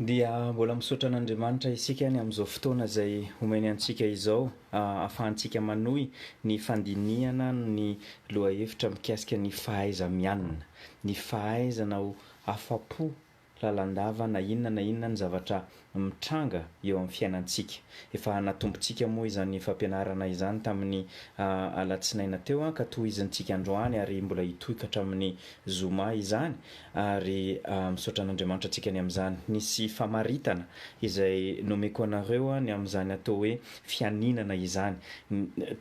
Dia mbola misaotra an'Andriamanitra isika any amin'izao fotoana izay omeny antsika izao ahafahantsika manohy ny fandinihana ny lohahevitra mikasika ny fahaiza-mianina, ny fahaizana ho afa-po lalandava na inona na inona ny zavatra mitranga eo amin'ny fiainantsika. Efa hanatombotsika moa izany fampianarana izany tamin'ny alatsinaina teo ka tohizintsika androany ary mbola hitohy ka hatramin'ny zoma izany ary misaotra an'Andriamanitra antsika ny amin'izany. Nisy famaritana izay nomeko anareo ny amin'izany atao hoe fianinana izany.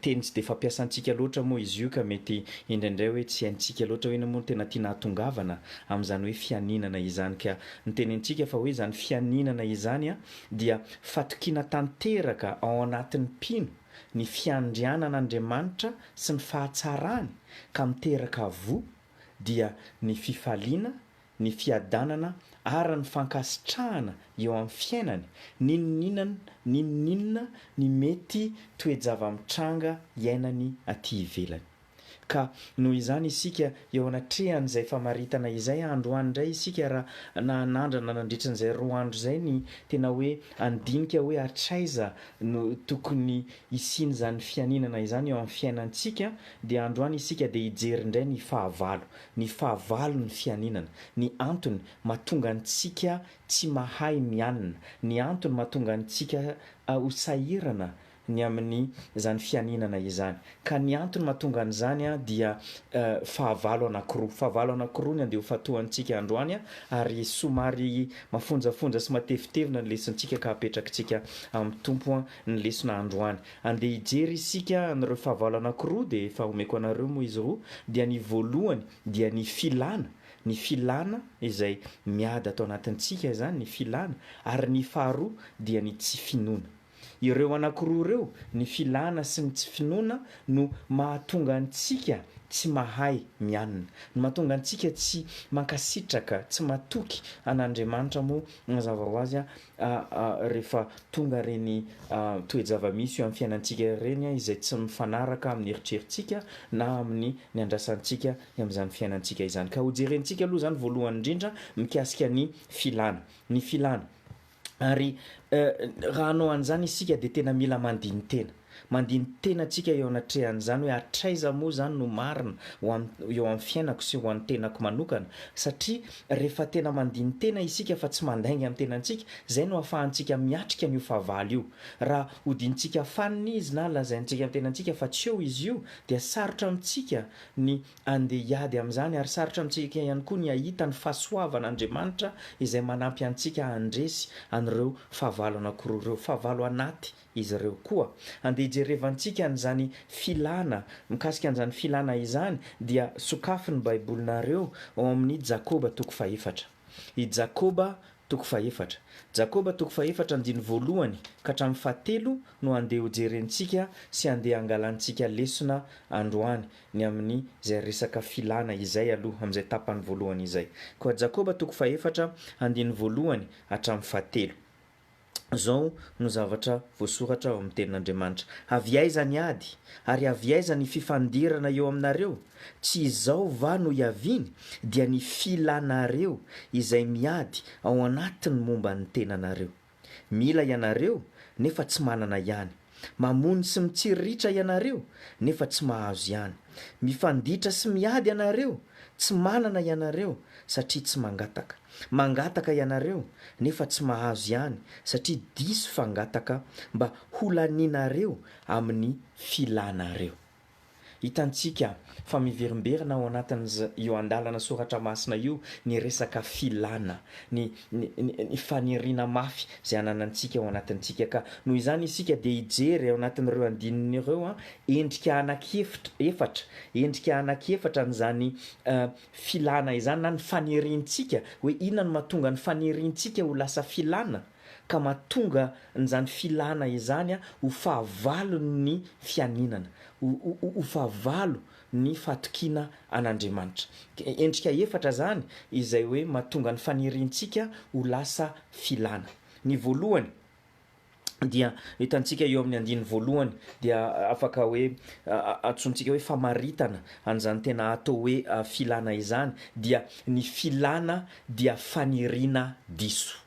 Teny tsy dia fampiasantsika loatra moa izy io ka mety indraindray hoe tsy haintsika loatra hoe inona moa no tena tiana hahatongavana amin'izany hoe fianinana izany. Ka ny tenenintsika fa hoe izany fianinana izany dia fatokiana tanteraka ao anatin'ny mpino ny fiandrianan' Andriamanitra sy ny fahatsarany ka miteraka voa dia ny fifaliana ny fiadanana ary ny fankasitrahana eo amin'ny fiainany, n'inon'inon n'inon'inona ny mety toe-java-mitranga iainany aty ivelany. Ka noho izany isika eo anatrehan'izay famaritana izay androany indray isika raha na nandrana nandritra an'izay roa andro izay ny tena hoe handinika hoe hatraiza no tokony hisian'izany fianinana izany eo amin'ny fiainantsika dia androany isika dia hijery indray ny fahavalo ny fahavalon'ny fianinana, ny antony mahatonga antsika tsy mahay mianina, ny antony mahatonga antsika ho sahirana ny amin'izany fianinana izany. Ka ny antony mahatonga an'izany dia fahavalo anankiroa. Fahavalo anankiroa ny andehofantohantsika androany ary somary mafonjafonja sy matevitevina ny lesontsika ka apetrakitsika amin'ny Tompo ny lesona androany. Andeha hijery isika an'ireo fahavalo anankiroa dia efa omeko anareo moa izy roa, dia ny voalohany dia ny filana, ny filana izay miady ato anatintsika izany ny filana, ary ny faharoa dia ny tsy finoana. Ireo anankiroa ireo, ny filana sy ny tsy finoana no mahatonga antsika tsy mahay mianina, no mahatonga antsika tsy mankasitraka, tsy matoky an'Andriamanitra moa mazava ho azy rehefa tonga ireny toe-javamisy eo amin'ny fiainantsika ireny izay tsy mifanaraka amin'ny eritreritsika na amin'ny niandrasantsika amin'izany fiainantsika izany. Ka hojerentsika aloha izany voalohany indrindra mikasika ny filana. Ny filana. Ary raha hanao an'izany isika dia tena mila mandini-tena. Mandini-tena antsika eo anatrehan'izany hoe hatraiza moa izany no marina ho an'ny eo amin'ny fiainako sy ho an'ny tenako manokana, satria rehefa tena mandini-tena isika fa tsy mandainga amin'ny tenantsika, izay no ahafahantsika miatrika an'io fahavalo io. Raha hodintsika fanina izy na lazaintsika amin'ny tenantsika fa tsy eo izy io, dia sarotra amintsika ny handeha hiady amin'izany ary sarotra amintsika ihany koa ny hahita ny fahasoavan'Andriamanitra izay manampy antsika handresy an'ireo fahavalo anankiroa ireo, fahavalo anaty. izy ireo koa. Andeha hijerevantsika an'izany filana, mikasika an'izany filana izany dia sokafy ny Baibolinareo ao amin'ny Jakoba toko fahefatra. I Jakoba toko fahefatra. Jakoba toko fahefatra andininy voalohany ka hatramin'ny fahatelo no andeha hojerentsika sy andeha hangalantsika lesona androany, ny amin'izay resaka filana izay aloha, amin'izay tapany voalohany izay. Koa Jakoba toko fahefatra andininy voalohany hatramin'ny fahatelo. Izao no zavatra voasoratra ao amin'ny Tenin'Andriamanitra, Avy aiza ny ady? Ary avy aiza ny fifandirana eo aminareo? Tsy izao va no iaviany? Dia ny filanareo izay miady ao anatiny momba ny tenanareo. Mila ianareo, nefa tsy manana ihany. Mamono sy mitsiriritra ianareo nefa tsy mahazo ihany. Mifanditra sy miady ianareo, tsy manana ianareo satria tsy mangataka. Mangataka ianareo nefa tsy mahazo ihany satria diso fangataka mba ho lanianareo amin'ny filanareo. Hitantsika fa miverimberina ao anatin'z io andalana soratra masina io ny resaka filana, ny, ny, ny, ny faniriana mafy izay ananantsika ao anatintsika. Ka noho izany isika dia hijery ao anatin'ireo andininy ireo an, endrika anak'efitra, efatra, endrika anak'efatra an'izany eh, filana izany na ny faniriantsika, hoe inona no mahatonga ny faniriantsika ho lasa filana? ka mahatonga an'izany filana izany ho fahavalon'ny fianinana, ho fahavalo ny fahatokiana an'Andriamanitra. Endrika efatra izany izay hoe mahatonga ny faniriantsika ho lasa filana. Ny voalohany dia hitantsika eo amin'ny andininy voalohany dia afaka hoe antsointsika hoe famaritana an'izany tena atao hoe filana izany dia ny filana dia faniriana diso.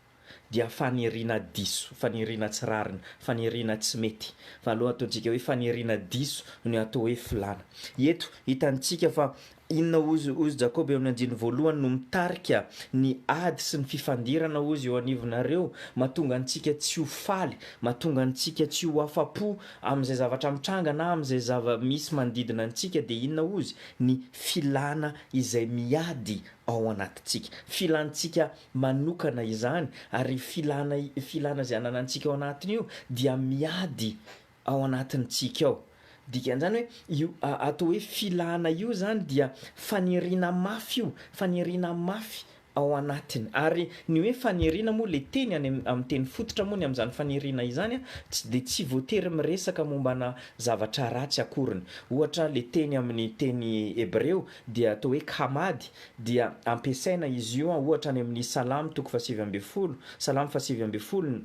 dia faniriana diso, faniriana tsy rariny, faniriana tsy mety. Fa aloha ataontsika hoe faniriana diso no atao hoe filàna. Eto, hitantsika fa inona hozy, hozy Jakoba eo amin'ny andininy voalohany no mitarika ny ady sy ny fifandirana hozy eo anivonareo, mahatonga antsika tsy ho faly, mahatonga antsika tsy ho afa-po amin'izay zavatra mitranga na amin'izay zava-misy manodidina antsika dia inona hozy, ny filàna izay miady ao anatintsika. Filàntsika manokana izany ary filana filana izay ananantsika ao anatiny io dia miady ao anatintsika ao dikan'izany hoe io atao hoe filana io zany dia faniriana mafy io faniriana mafy ao anatiny ary ny hoe faniriana moa le teny any amin'ny teny fototra moa ny amin'izany faniriana izany a tsy de tsy voatery miresaka mombana zavatra ratsy akoriny ohatra le teny amin'ny teny hebreo dia atao hoe kamady dia ampiasaina izy io ohatra any amin'ny Salamo toko fahasivy ambin'ny folo, Salamo fahasivy ambin'ny folo,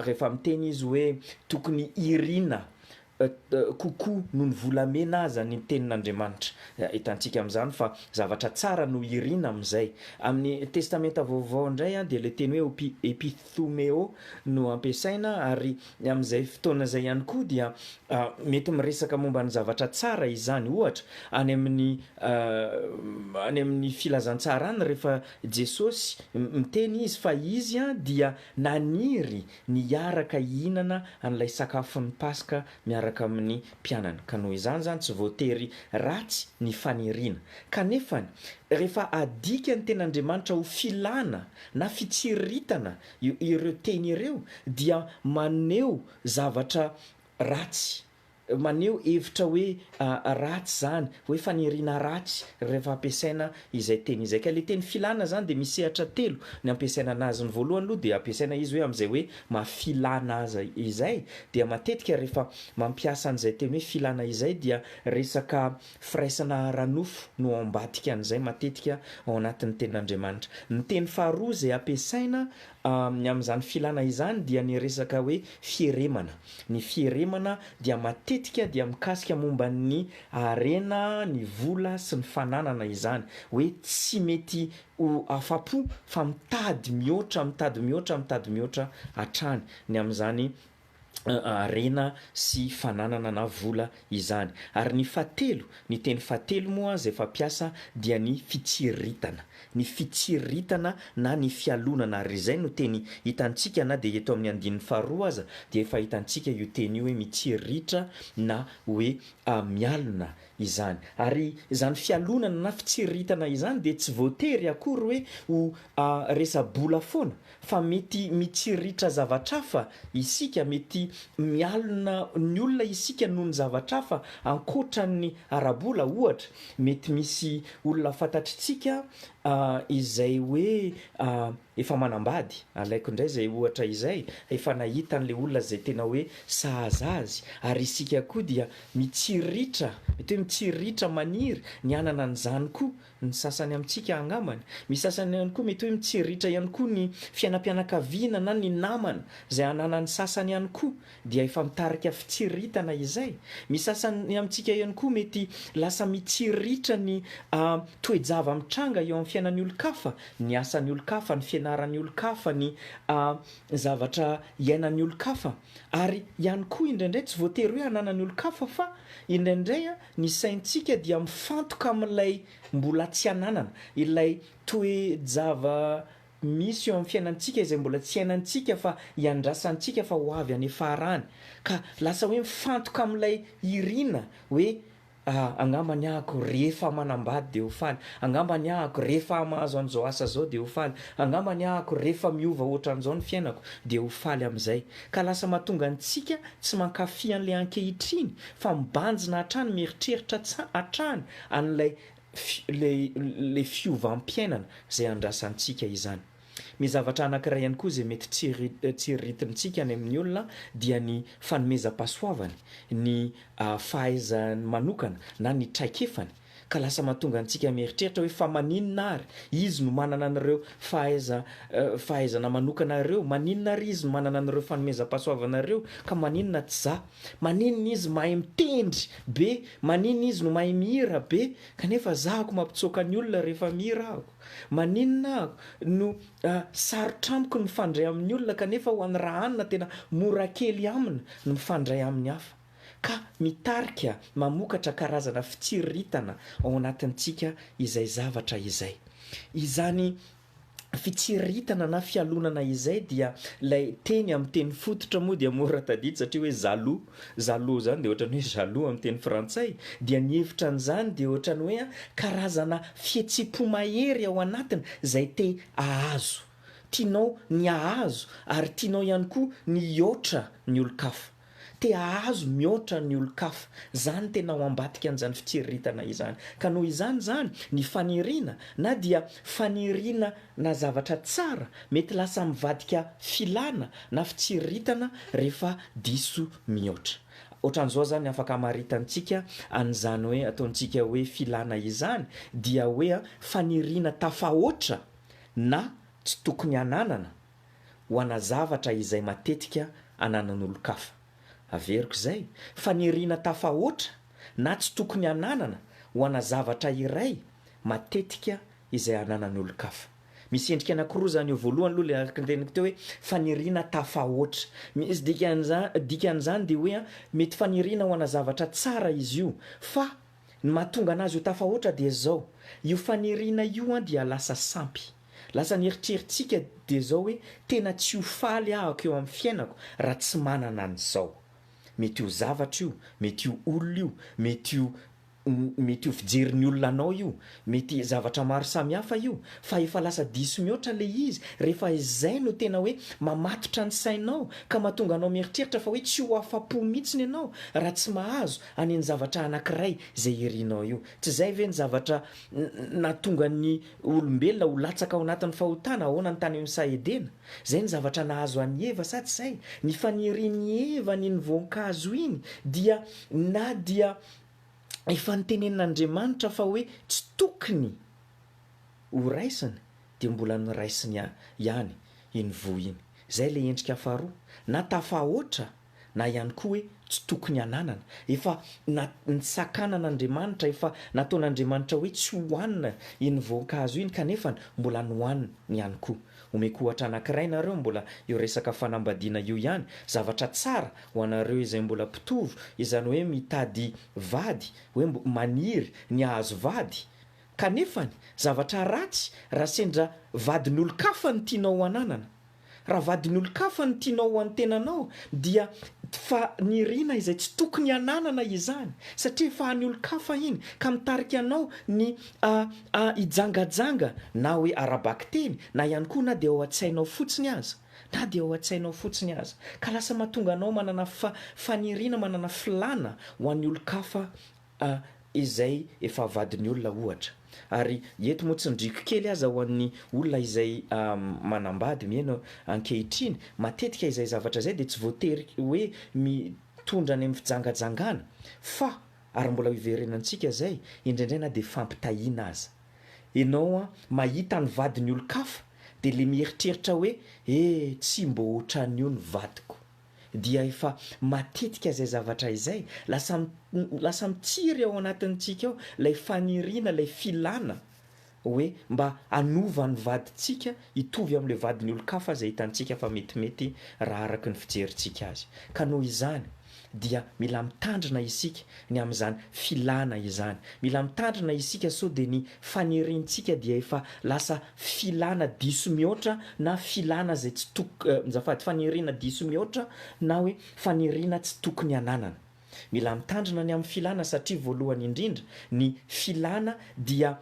rehefa miteny izy hoe tokony hiriana kokoa noho ny volamena aza ny tenin'Andriamanitra. Hitantsika amin'izany fa zavatra tsara no hiriana amin'izay. Amin'ny Testamenta Vaovao indray dia ilay teny hoe epith. Thumeo no ampiasaina ary amin'izay fotoana izay ihany koa dia mety miresaka momba ny zavatra tsara izany. Ohatra, any amin'ny any amin'ny Filazantsara any rehefa Jesosy miteny izy fa izy dia naniry ny hiaraka hihinana an'ilay sakafon'ny Paska miaraka amin'ny mpianany ka noho izany izany tsy voatery ratsy ny faniriana. Kanefany, rehefa adika ny Tenin'Andriamanitra ho filana na fitsiriritana ireo teny ireo dia maneho zavatra ratsy, maneho hevitra hoe ratsy izany, hoe faniriana ratsy rehefa ampiasaina izay teny izay ka le teny filana zany dia misy sehatra telo ny ampiasaina anazy, ny voalohany aloha dia ampiasaina izy hoe amin'izay hoe maha filana azy izay dia matetika rehefa mampiasa an'izay teny hoe filana izay dia resaka firaisana ara-nofo no ao ambadika an'izay matetika ao anatin'ny tenin'Andriamanitra, ny teny faharoa izay ampiasaina Ny amin'izany filana izany dia ny resaka hoe fieremana. Ny fieremana dia matetika dia mikasika momba ny harena, ny vola sy ny fananana izany. Hoe tsy mety ho afa-po fa mitady mihoatra, mitady mihoatra, mitady mihoatra hatrany ny amin'izany harena sy fananana na vola izany. Ary ny fahatelo, ny teny fahatelo moa izay fampiasa dia ny fitsiriritana. Ny fitsiriritana na ny fialonana ary izay no teny hitantsika na dia eto amin'ny andininy faharoa aza dia efa hitantsika io teny io hoe mitsiriritra na hoe mialona izany. Ary izany fialonana na fitsiriritana izany dia tsy voatery akory hoe ho resa-bola foana Fa mety mitsiritra zavatra hafa isika, mety mialona ny olona isika noho ny zavatra hafa ankoatra ny ara-bola. Ohatra, mety misy olona fantatritsika izay hoe efa manambady, alaiko indray izay ohatra izay, efa nahita an'ilay olona izay tena hoe sahaza azy, ary isika koa dia mitsiritra, mety hoe mitsiritra, maniry ny hanana an'izany koa. Ny sasany amintsika angambany. Misy sasany ihany koa mety hoe mitseriritra ihany koa ny fiainam-pianakaviana na ny namana izay ananan'ny sasany ihany koa dia efa mitarika fitsiriritana izay. Misy sasany amintsika ihany koa mety lasa mitsiriritra ny toe-java mitranga eo amin'ny fiainan'ny olon-kafa, ny asan'ny olon-kafa, ny fianaran'ny olon-kafa, ny zavatra iainan'ny olon-kafa. Ary ihany koa indraindray tsy voatery hoe ananan'ny olon-kafa fa indraindray Ny saintsika dia mifantoka amin'ilay mbola tsy ananana, ilay toe-java-misy eo amin'ny fiainantsika izay mbola tsy iainantsika fa iandrasantsika fa ho avy any ifarany, ka lasa hoe mifantoka amin'ilay irina hoe, ah, angamba ny ahako rehefa manambady dia ho faly, angamba ny ahako rehefa hamahazo an'izao asa izao dia ho faly, angamba ny ahako rehefa miova hoatran'izao ny fiainako dia ho faly amin'izay. Ka lasa mahatonga antsika tsy mankafy an'ilay ankehitriny fa mibanjina hatrany mieritreritra hatrany an'ilay ilay fiovam-piainana izay andrasantsika izany. Ny zavatra anankiray ihany koa izay mety tsiriritintsika any amin'ny olona dia ny fanomezam-pahasoavany, ny fahaiza-ny manokana na ny traikefany. Ka lasa mahatonga antsika mieritreritra hoe fa maninona ary izy no manana an'ireo fahaiza fahaizana manokana ireo? Maninona ary izy no manana an'ireo fanomezam-pahasoavana ireo ka maninona tsy za? Maninona izy mahay mitendry be? Maninona izy no mahay mihira be kanefa za ako mampitsoaka ny olona rehefa mihira ako? Maninona ako no sarotra amiko ny mifandray amin'ny olona kanefa ho an'i Rahanina tena mora kely amina ny mifandray amin'ny hafa? ka mitarika mamokatra karazana fitsiriritana ao anatintsika izay zavatra izay. Izany fitsiriritana na fialonana izay dia ilay teny amin'ny teny fototra moa dia mora tadidy satria hoe jaloux, jaloux izany dia ohatran'ny hoe jaloux amin'ny teny frantsay, dia ny hevitra an'izany dia ohatran'ny hoe karazana fihetsem-po mahery ao anatiny izay te hahazo, tianao ny hahazo ary tianao ihany koa ny hihoatra ny olon-kafa. Te ahazo mihoatra ny olon-kafa. Zany tena ao ambadika an'izany fitsiriritana izany. Ka noho izany zany, ny faniriana, na dia faniriana na zavatra tsara, mety lasa mivadika filana na fitsiriritana rehefa diso mihoatra. Ohatran'izao zany afaka amaritantsika an'izany hoe ataontsika hoe filana izany dia hoe faniriana tafahoatra na tsy tokony hananana, ho ana zavatra izay matetika ananan'olon-kafa. Averiko izay faniriana tafahoatra na tsy tokony hananana ho ana zavatra iray matetika izay ananan'ny olon-kafa. Misy endrika anankiroa izany eo, voalohany aloha ilay araka ny teneniko teo hoe faniriana tafahoatra. Misy dikan'iza, dikan'izany dia hoe mety faniriana ho ana zavatra tsara izy io fa ny mahatonga anazy ho tafahoatra dia izao, io faniriana io dia lasa sampy. Lasa ny eritreritsika dia zao hoe tena tsy ho faly ahako eo amin'ny fiainako raha tsy manana an'izao. Mety io zavatra io, mety io olona io, mety io mety io fijerin'ny olona anao io, mety zavatra maro samihafa io fa efa lasa diso mihoatra ilay izy rehefa izay no tena hoe mamatotra ny sainao ka mahatonga anao mieritreritra fa hoe tsy ho afa-po mihitsiny ianao raha tsy mahazo any ny zavatra anankiray izay irinao io. Tsy izay ve ny zavatra nahatonga ny olombelona ho latsaka ao anatin'ny fahotana, ahoana ny tany amin'ny saha Edena? Izay ny zavatra nahazo an'i Eva sa tsy izay? Ny fanirian'i Eva ny ny voankazo iny dia na dia efa notenenin'Andriamanitra fa hoe tsy tokony ho raisiny dia mbola noraisiny ihany iny voa iny. Izay ilay endrika faharoa na tafahoatra. na ihany koa hoe tsy tokony hananana. Efa na nisakanana Andriamanitra, efa nataon'Andriamanitra hoe tsy hohanina iny voankazo iny kanefany mbola nohaniny ihany koa. Omeko ohatra anankiray nareo mbola io resaka fanambadiana io ihany, zavatra tsara ho anareo izay mbola mpitovo izany hoe mitady vady, hoe mbo maniry ny hahazo vady, kanefany zavatra ratsy raha sendra vadin'olon-kafa no tianao ho ananana. Raha vadin'olon-kafa no tianao ho an'ny tenanao dia fa nirina izay tsy tokony hananana izany satria efa an'ny olon-kafa iny ka mitarika anao ny a a hijangajanga na hoe ara-bakiteny na ihany koa na dia ao an-tsainao fotsiny aza na dia ao an-tsainao fotsiny aza ka lasa mahatonga anao manana fa faniriana manana filàna ho an'ny olon-kafa A, izay efa vadin'ny olona ohatra. Ary eto moa tsindriako kely aza ho an'ny olona izay manambady mihaino ankehitriny, matetika izay zavatra izay dia tsy voatery hoe mitondra any amin'ny fijangajangana fa, ary mbola hiverenantsika izay, indraindray na dia fampitahiana aza. Ianao an, mahita ny vadin'ny olon-kafa dia ilay mieritreritra hoe, eh tsy mbo ohatran'io ny vadiko. dia efa matetika izay zavatra izay, lasa lasa mitsiry ao anatintsika ao ilay faniriana, ilay filana hoe mba hanova ny vadintsika hitovy amin'ilay vadin'ny olon-kafa izay hitantsika fa metimety raha araka ny fijerintsika azy. Ka noho izany dia mila mitandrina isika ny amin'izany filana izany. Mila mitandrina isika sao dia ny faniriantsika dia efa lasa filana diso mihoatra na filana izay tsy tok, azafady, faniriana diso mihoatra na hoe faniriana tsy tokony hananana. Mila mitandrina ny amin'ny filana satria voalohany indrindra, ny filana dia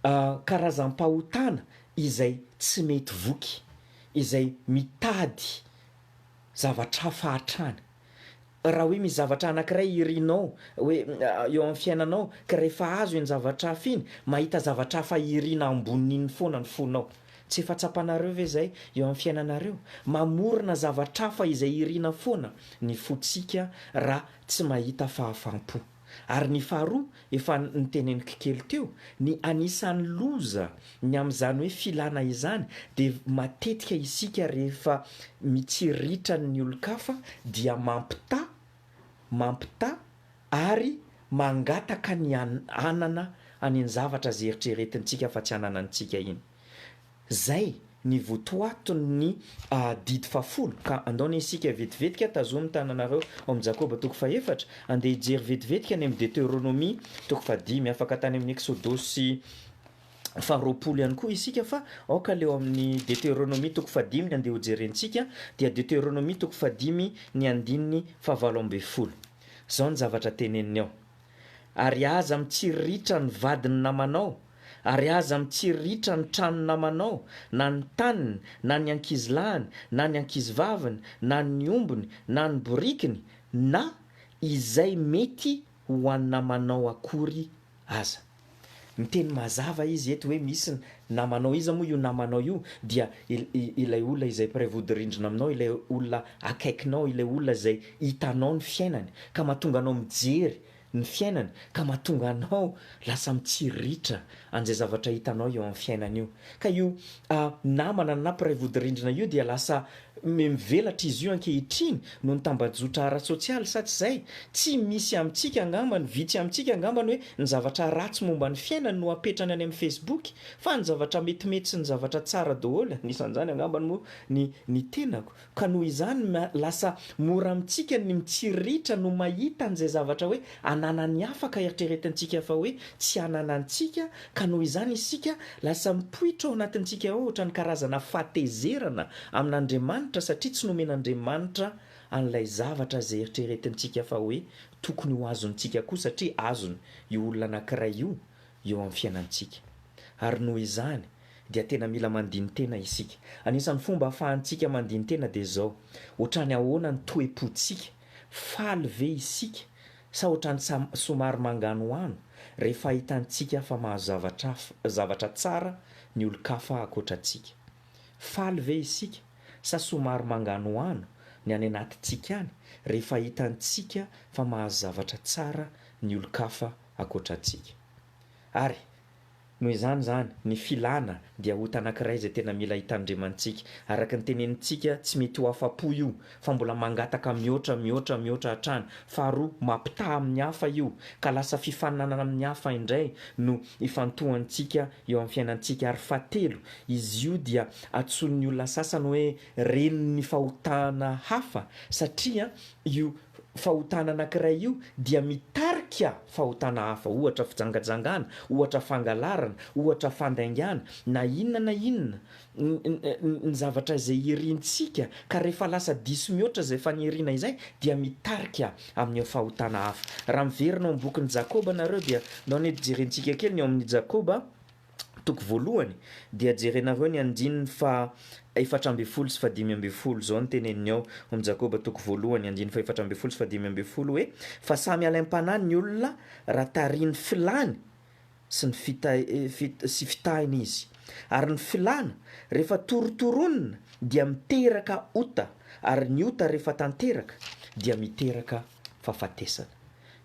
karazam-pahotana izay tsy mety voky, izay mitady zavatra hafa hatrany. Raha hoe misy zavatra anankiray irinao hoe eo amin'ny fiainanao ka rehefa azo iny zavatra hafa iny, mahita zavatra hafa irina ambonin'iny foana ny fonao. Tsy efa tsapanareo ve izay eo amin'ny fiainanareo? Mamorona zavatra hafa izay irina foana ny fontsika raha tsy mahita fahafam-po. Ary ny faharoa, efa noteneniko kely teo, ny anisan'ny loza ny amin'izany hoe filana izany dia matetika isika rehefa mitsiritra ny olon-kafa dia mampitaha, mampitaha ary mangataka ny hanana any ny zavatra izay eritreretintsika fa tsy hanana antsika iny. Zay ny votoaton'ny didy fahafolo, ka andao anie isika vetivetika, tazomy ny tananareo ao amin'ny Jakoba toko fahefatra, andeha hijery vetivetika any amin'ny Deteronomia toko fahadimy, afaka tany amin'ny Eksodosy faharoapolo ihany koa isika fa aoka aleo amin'ny Deteronomia toko fahadimy ny andeha hojerentsika, dia Deteronomia toko fahadimy ny andininy fahavalo ambin'ny folo. Zao ny zavatra teneniny ao, Ary aza mitsiriritra ny vadin'ny namanao, Ary aza mitsiriritra ny tranon namanao, na ny taniny, na ny ankizilahiny, na ny ankizivaviny, na ny ombiny, na ny borikiny, na izay mety ho an namanao akory aza. Miteny mazava izy eto hoe misy ny namanao, iza moa io namanao io? Dia ilay olona izay mpiray vodirindrina aminao, ilay olona akaikinao, ilay olona izay hitanao ny fiainany, ka mahatonga anao mijery ny fiainany ka mahatonga anao lasa mitsiriritra an'izay zavatra hitanao eo amin'ny fiainany io. Ka io namana na mpiray vodirindrina io dia lasa mivelatra izy io ankehitriny noho ny tambajotra ara-tsosialy sa tsy izay? Tsy misy amintsika angamba ny vitsy amintsika angamba ny hoe ny zavatra ratsy momba ny fiainany no apetrany any amin'ny Facebook fa ny zavatra metimety sy ny zavatra tsara daholo anisan'izany angamba moa ny ny tenako. Ka noho izany lasa mora amintsika ny mitsiriritra no mahita an'izay zavatra hoe ananan'ny hafa ka eritreretintsika fa hoe tsy ananantsika ka noho izany isika lasa mipoitra ao anatintsika ao ohatran'ny karazana fahatezerana amin'Andriamanitra satria tsy nomen'Andriamanitra an'ilay zavatra izay eritreretintsika fa hoe tokony ho azontsika koa satria azony io olona anankiray io eo amin'ny fiainantsika ary noho izany dia tena mila mandini-tena isika. Anisan'ny fomba ahafahantsika mandini-tena dia izao, Ohatrany ahoana ny toe-pontsika? Faly ve isika? Sa ohatrany somary manganohano rehefa hitantsika fa mahazavatra zavatra tsara ny olon-kafa ankoatra antsika? Faly ve isika? Sa somary manganohano ny any anatintsika any rehefa hitantsika fa mahazo zavatra tsara ny olon-kafa ankoatra antsika? Ary. Noho izany izany, ny filana dia ota anankiray izay tena mila hitandremantsika. Araka ny tenenintsika, tsy mety ho afa-po io, fa mbola mangataka mihoatra, mihoatra, mihoatra hatrany. Faharoa, mampitaha amin'ny hafa io, ka lasa fifaninanana amin'ny hafa indray no ifantohantsika eo amin'ny fiainantsika. Ary fahatelo, izy io dia antsoin'ny olona sasany hoe renin'ny fahotana hafa, satria io fahotana anankiray io dia mitarika fahotana hafa, ohatra fijangajangana, ohatra fangalarana, ohatra fandaingana, na inona na inona ny zavatra izay irintsika ka rehefa lasa diso mihoatra izay faniriana izay dia mitarika amin'io fahotana hafa. Raha miverina ao amin'ny bokin'i Jakoba nareo dia nao ny ampijerentsika kely ny ao amin'ny Jakoba. Toko voalohany, dia jerenareo ny andininy faha efatra ambin'ny folo sy faha dimy ambin'ny folo, izao no teneniny ao amin'ny Jakoba toko voalohany andininy faha efatra ambin'ny folo sy faha dimy ambin'ny folo hoe, Fa samy alaim-panahy ny olona raha tarihin'ny filàny sy ny sy fitahiny izy. Ary ny filàna, rehefa torotoronina, dia miteraka ota, ary ny ota rehefa tanteraka, dia miteraka fahafatesana.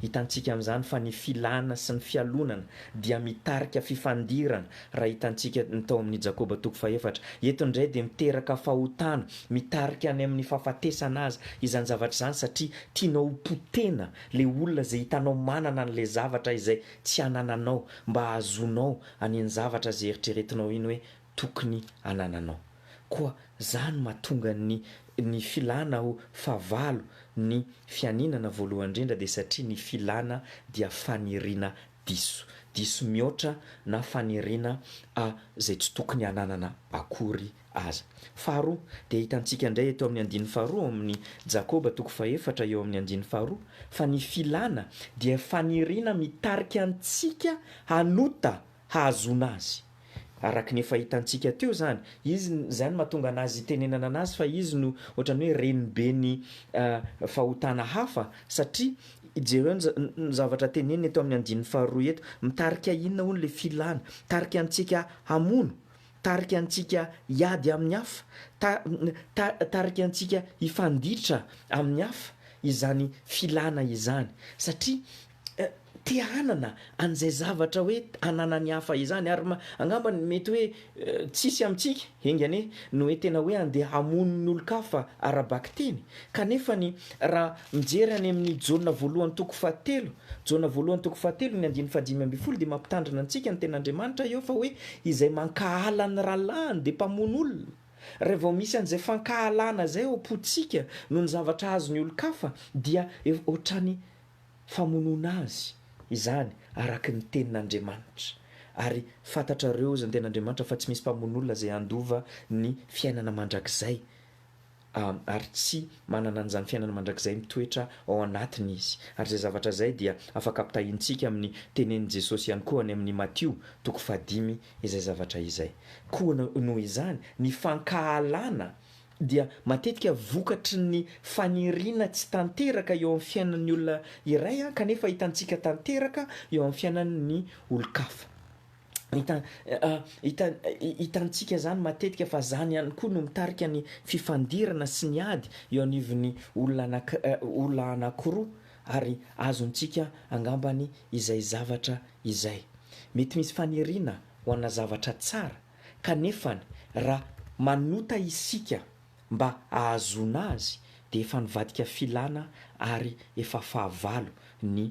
Hitantsika amin'izany fa ny filana sy ny fialonana dia mitarika fifandirana raha hitantsika ny tao amin'ny Jakoba toko fahefatra. Eto indray dia miteraka fahotana, mitarika any amin'ny fahafatesana aza izany zavatra izany satria tianao ho potehina ilay olona izay hitanao manana an'ilay zavatra izay tsy anananao mba hahazoanao an'iny zavatra izay eritreretinao iny hoe tokony anananao. Koa za no mahatonga ny ny filana ho fahavalo ny fianinana voalohany indrindra dia satria ny filana dia faniriana diso. Diso mihoatra na faniriana a zay tsy tokony ananana akory aza. Faharoa, dia hitantsika indray eto amin'ny andininy faharoa ao amin'ny Jakoba toko fahefatra eo amin'ny andininy faharoa fa ny filana dia faniriana mitarika antsika hanota hahazoana azy. Araka ny efa hitantsika teo izany, izy, izany no mahatonga anazy hitenenana anazy fa izy no ohatran'ny hoe reniben'ny fahotana hafa, satria jereo ny ny zavatra teneniny eto amin'ny andininy faharoa eto, mitarika inona hono ilay filana? Mitarika antsika hamono, mitarika antsika hiady amin'ny hafa, ta- ta- mitarika antsika hifanditra amin'ny hafa izany filana izany, satria te hanana an'izay zavatra hoe ananan'ny hafa izany ary angamba ny mety hoe tsisy amintsika enga anie no hoe tena hoe andeha hamono ny olon-kafa ara-bakiteny kanefa ny raha mijery any amin'ny Jaona voalohany toko fahatelo Jaona voalohany toko fahatelo ny andininy fahadimy ambin'ny folo dia mampitandrina antsika ny tenin'Andriamanitra eo fa hoe izay mankahala ny rahalahiny dia mpamono olona raha vao misy an'izay fankahalana izay ao am-pontsika noho ny zavatra azon'ny olon-kafa dia ohatrany Famonoana azy izany araka ny tenin'Andriamanitra. Ary fantatrareo izany tenin'Andriamanitra fa tsy misy mpamono olona izay handova ny fiainana mandrakizay, ary tsy manana an'izany fiainana mandrakizay mitoetra ao anatiny izy. Ary izay zavatra izay dia afaka ampitahaintsika amin'ny tenenin'i Jesosy ihany koa any amin'ny Matio toko fahadimy izay zavatra izay. Koa noho izany, ny fankahalana dia matetika vokatry ny faniriana tsy tanteraka eo amin'ny fiainan'ny olona iray kanefa hitantsika tanteraka eo amin'ny fiainan'ny olon-kafa. Hitantsika izany matetika fa izany ihany koa no mitarika ny fifandirana sy ny ady eo anivon'ny olona anankiroa ary azontsika angambany izay zavatra izay. Mety misy faniriana ho ana zavatra tsara. Kanefany, raha manota isika mba hahazoana azy, dia efa nivadika filana ary efa fahavalo ny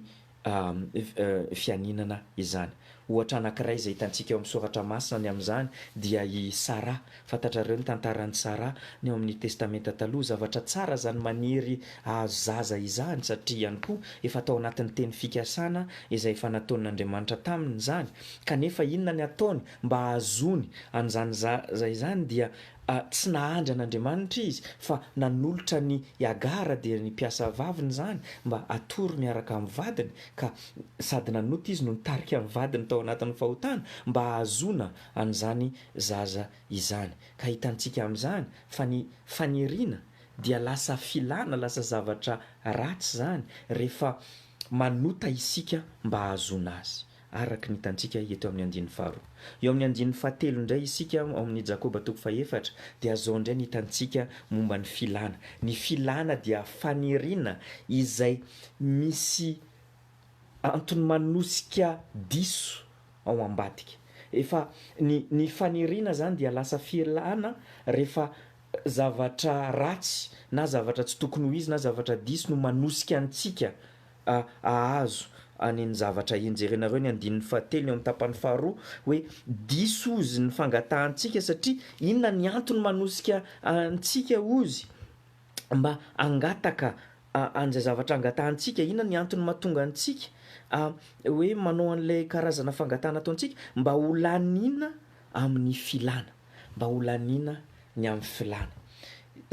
fianinana izany. Ohatra anankiray izay hitantsika eo amin'ny Soratra Masina ny amin'izany dia i Saraha. Fantatrareo ny tantaran'i Saraha ny ao amin'ny Testamenta Taloha. Zavatra tsara izany maniry hahazo zaza izany, satria ihany koa efa tao anatin'ny teny fikasana izay efa nataon'Andriamanitra taminy izany. Kanefa inona ny ataony Mba hahazoany an'izany zaza izany dia tsy nahandry an'Andriamanitra izy fa nanolotra an'i Hagara dia ny mpiasa vaviny izany mba hatory miaraka amin'ny vadiny ka sady nanota izy no nitarika ny vadiny tao anatin'ny fahotana mba hahazoana an'izany zaza izany. Ka hitantsika amin'izany fa ny faniriana dia lasa filana, lasa zavatra ratsy izany rehefa manota isika mba hahazoana azy. araka ny hitantsika eto amin'ny andininy faharoa. Eo amin'ny andininy fahatelo indray isika ao amin'ny Jakoba toko fahefatra dia zao indray ny hitantsika momba ny filana. Ny filana dia faniriana izay misy antony manosika diso ao ambadika. Efa ny ny faniriana izany dia lasa filana rehefa zavatra ratsy na zavatra tsy tokony ho izy na zavatra diso no manosika antsika. a Ahazo any ny zavatra enjerenareo ny andininy fahatelo ny ao amin'ny tapany faharoa hoe diso ozy ny fangatahantsika satria inona ny antony manosika antsika ozy mba hangataka a an'izay zavatra angatahantsika inona ny antony mahatonga antsika a hoe manao an'ilay karazana fangatahana ataontsika mba ho laniana amin'ny filana. mba ho laniana ny amin'ny filàna.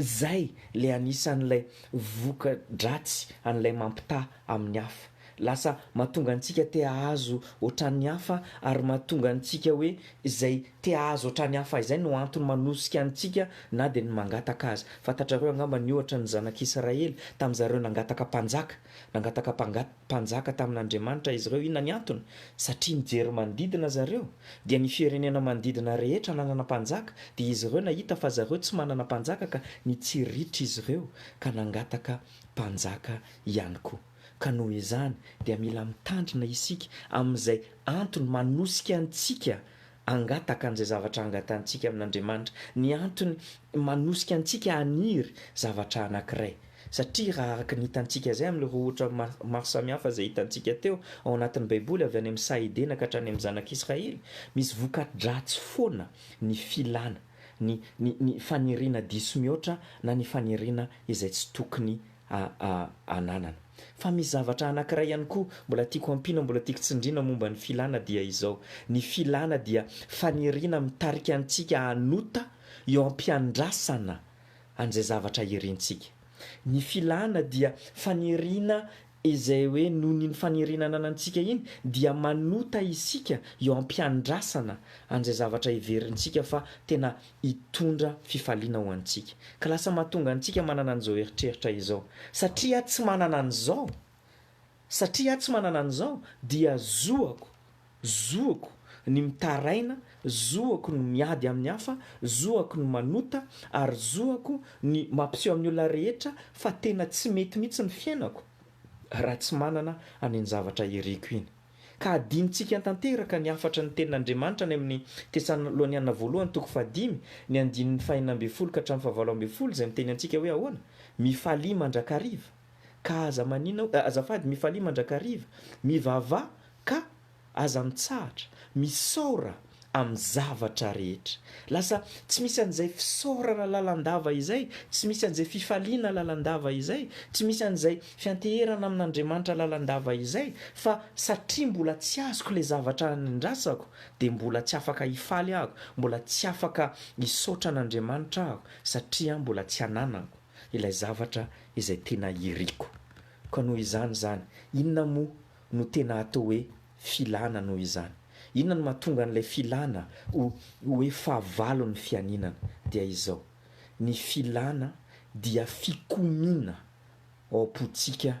Izay ilay anisan'ilay voka-dratsy an'ilay mampitaha amin'ny hafa. Lasa mahatonga antsika te hahazo hoatran'ny hafa ary mahatonga antsika hoe izay te hahazo hoatran'ny hafa izay no antony manosika antsika na dia ny mangataka aza. Fantatrareo angamba ny ohatran'ny zanak'Israely, tamin'izareo nangataka mpanjaka, nangataka mpangat. Mpanjaka tamin'Andriamanitra izy ireo. Inona ny antony? Satria nijery manodidina zareo, dia ny firenena manodidina rehetra nanana mpanjaka, dia izy ireo nahita fa zareo tsy manana mpanjaka ka nitsiritra izy ireo ka nangataka mpanjaka ihany koa. Ka noho izany dia mila mitandrina isika amin'izay antony manosika antsika hangataka an'izay zavatra angatantsika amin'Andriamanitra. Ny antony manosika antsika haniry zavatra anankiray, satria raha araka ny hitantsika izay amin'ireo ohatra maro samihafa izay hitantsika teo ao anatin'ny Baiboly, avy any amin'ny saha Edena ka hatrany amin'ny Zanak'Israely, misy voka-dratsy foana ny filana, ny, ny, ny faniriana diso mihoatra na ny faniriana izay tsy tokony a a ananana. Fa misy zavatra anankiray ihany koa mbola tiako ampiana, mbola tiako tsindriana momba ny filana dia izao, ny filana dia faniriana mitarika antsika hanota eo am-piandrasana an'izay zavatra irintsika. Ny filana dia faniriana izay hoe noho ny iny faniriana ananantsika iny dia manota isika eo am-piandrasana an'izay zavatra heverintsika fa tena hitondra fifaliana ho antsika. Ka lasa mahatonga antsika manana an'izao eritreritra izao. Satria aho tsy manana an'izao, satria aho tsy manana an'izao, dia zoako, zoako ny mitaraina, zoako ny miady amin'ny hafa, zoako ny manota, ary zoako ny mampiseho amin'ny olona rehetra fa tena tsy mety mihitsy ny fiainako raha tsy manana an'iny zavatra iriko iny. Ka adinontsika tanteraka ny hafatry ny Tenin'Andriamanitra any amin'ny Tesaloniana Voalohany toko fahadimy, ny andininy fahenina ambin'ny folo ka hatramin'ny fahavalo ambin'ny folo, izay miteny antsika hoe ahoana? Mifalia mandrakariva, ka aza maninona, azafady, mifalia mandrakariva, mivavaha, ka aza mitsahatra, misaora, amin'ny zavatra rehetra. Lasa tsy misy an'izay fisaorana lalandava izay, tsy misy an'izay fifaliana lalandava izay, tsy misy an'izay fianteherana amin'Andriamanitra lalandava izay, fa satria mbola tsy azoko ilay zavatra anandrasako, dia mbola tsy afaka hifaly aho, mbola tsy afaka hisaotra an'Andriamanitra aho, satria mbola tsy ananako ilay zavatra izay tena iriko. Koa noho izany izany, inona moa no tena atao hoe filana noho izany. Inona no mahatonga an'ilay filana ho hoe fahavalon'ny fianinana? Dia izao, ny filana dia fikomiana ao am-pontsika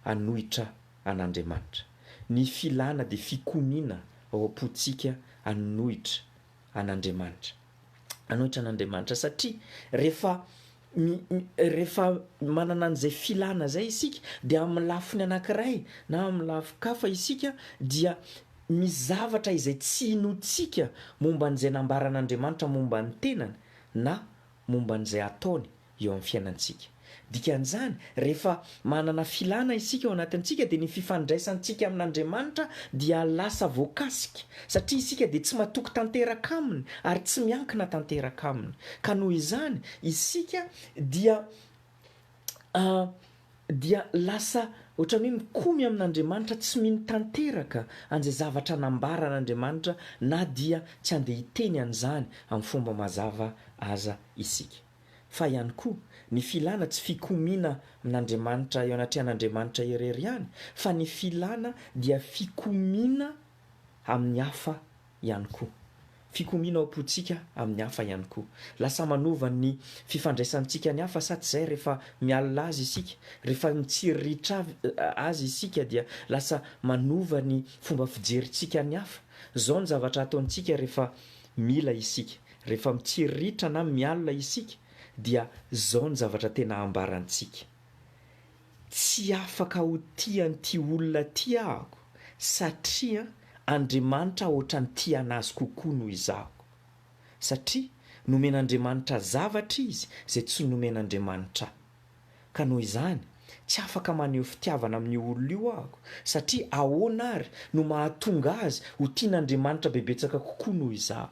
hanohitra an'Andriamanitra. Ny filana dia fikomiana ao am-pontsika hanohitra an'Andriamanitra. Hanohitra an'Andriamanitra satria rehefa rehefa manana an'izay filana izay isika dia amin'ny lafiny anankiray na amin'ny lafin-kafa isika dia misy zavatra izay tsy inoantsika momba an'izay nambaran'Andriamanitra momba ny tenany na momba an'izay ataony. eo amin'ny fiainantsika. Dikan'izany, rehefa manana filana isika ao anatintsika dia ny fifandraisantsika amin'Andriamanitra dia lasa voakasika, satria isika dia tsy matoky tanteraka Aminy ary tsy miankina tanteraka Aminy. Ka noho izany, isika dia dia lasa ohatran'ny hoe mikomy amin'Andriamanitra tsy mino tanteraka an'izay zavatra nambaran'Andriamanitra na dia tsy andeha hiteny an'izany amin'ny fomba mazava aza isika. fa ihany koa ny filana tsy fikomiana amin'Andriamanitra eo anatrehan'Andriamanitra irery ihany fa ny filana dia fikomiana amin'ny hafa ihany koa. Fikomiana ao am-pontsika amin'ny hafa ihany koa. Lasa manova ny fifandraisantsika ny hafa sa tsy izay rehefa mialona azy isika, rehefa mitsiriritra azy isika dia lasa manova ny fomba fijerintsika ny hafa. Izao ny zavatra ataontsika rehefa mila isika. Rehefa mitsiriritra na mialona isika dia izao ny zavatra tena ambarantsika, Tsy afaka ho tia an'ity olona ity ahako satria Andriamanitra hoatran'ny tia an'azy kokoa noho izaho. Satria nomen'Andriamanitra zavatra izy izay tsy nomen'Andriamanitra ahy. Ka noho izany, tsy afaka maneho fitiavana amin'io olona io aho, satria ahoana àry no mahatonga azy ho tian'Andriamanitra bebetsaka kokoa noho izaho?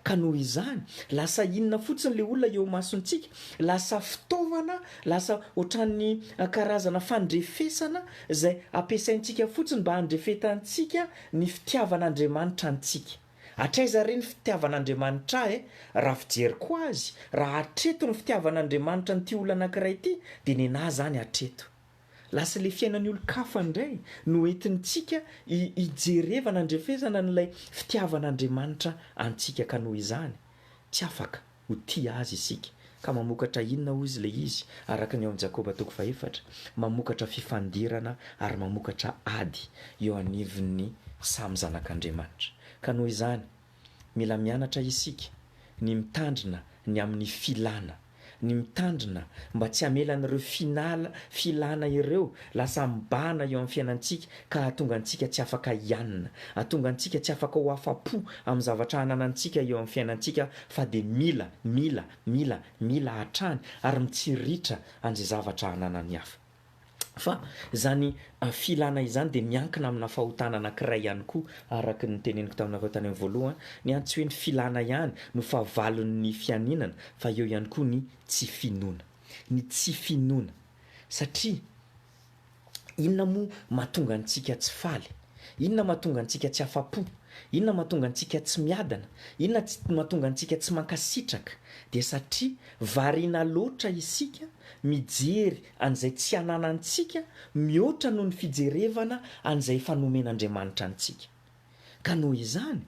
Ka noho izany, lasa inona fotsiny ilay olona eo imasontsika? Lasa fitaovana, lasa hoatran'ny karazana fandrefesana izay ampiasaintsika fotsiny mba handrefetantsika ny fitiavan'Andriamanitra antsika. Hatraiza re ny fitiavan'Andriamanitra ahy e? Raha fijeriko azy, raha hatreto ny fitiavan'Andriamanitra an'ity olona anankiray ity, dia nenahy izany hatreto. Lasa ilay fiainan'ny olon-kafa indray no entintsika hijerevana andrefesana an'ilay fitiavan'Andriamanitra antsika ka noho izany tsy afaka Ho tia Azy isika. Ka mamokatra inona hoy Izy ilay izy, araka ny ao amin'ny Jakoba toko fahefatra? Mamokatra fifandirana ary mamokatra ady eo anivon'ny samy zanak'Andriamanitra. Ka noho izany, mila mianatra isika ny mitandrina ny amin'ny filana, ny mitandrina mba tsy hamela an'ireo final, filana ireo lasa mibahana eo amin'ny fiainantsika ka hahatonga antsika tsy afaka hianina, hahatonga antsika tsy afaka ho afa-po amin'ny zavatra ananantsika eo amin'ny fiainantsika fa dia mila, mila, mila, mila hatrany ary mitsiritra an'izay zavatra ananan'ny hafa. Fa izany filana izany dia miankina amina fahotana anankiray ihany koa, araka ny noteneniko taminareo tany amin'ny voalohany, ny an tsy hoe ny filana ihany no fahavalon'ny fianinana fa eo ihany koa ny tsy finoana, ny tsy finoana satria, Inona moa mahatonga antsika tsy faly? Inona mahatonga antsika tsy afa-po? Inona mahatonga antsika tsy miadana? Inona mahatonga antsika tsy mankasitraka? Dia satria variana loatra isika mijery an'izay tsy ananantsika mihoatra noho ny fijerevana an'izay efa nomen'Andriamanitra antsika. Ka noho izany,